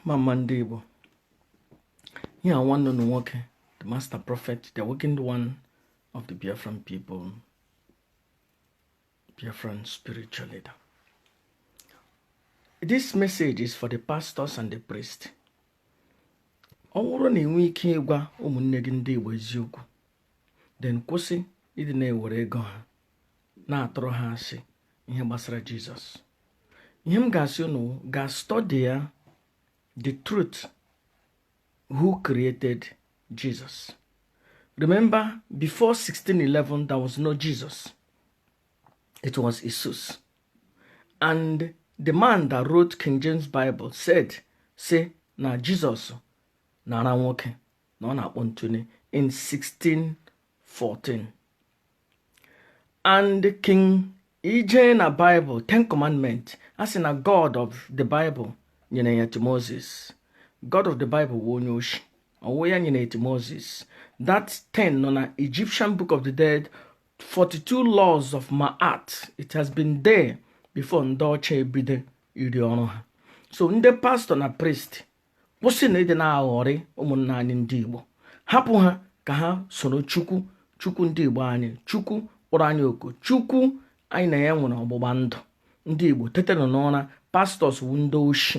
mma mma ndị Igbo ihe a nwanne unu nwoke the master prophet the awakened one of the Biafran people Biafran spiritual leader this message is for the pastors and the priest ọ wụrụ na i nwe ike ịgwa ụmụnne gị ndị Igbo eziokwu then kwụsị ịdị na-ewere ego ha na-atụrụ ha asị ihe gbasara jizọs ihe m ga-asị unu wụ gaa study ya the truth who created jesus remember before 1611 there was no jesus it was iesus and the man that wrote king james bible said say na jesus na-ara nwoke na ọ na-akpọ ntụne in 1614 and king i jee na bible ten commandment a sị na god of the bible nyere ya to moses god of the bible wụ onye oshi ọ wụ ya nyere to moses that ten nọ na egyptian book of the dead 42 laws of ma'at it has been there before ndị ọcha ebido ịrụ ọrụ ha so ndị pastor na priest kwụsịnụ ịdị na-aghọrị ụmụnna anyị ndị Igbo hapụ ha ka ha soro Chukwu Chukwu ndị Igbo anyị Chukwu kpọrọ anyị oku Chukwu anyị na ya nwere ọgbụgba ndụ ndị Igbo tetenụ n'ụra pastors wụ ndị oshi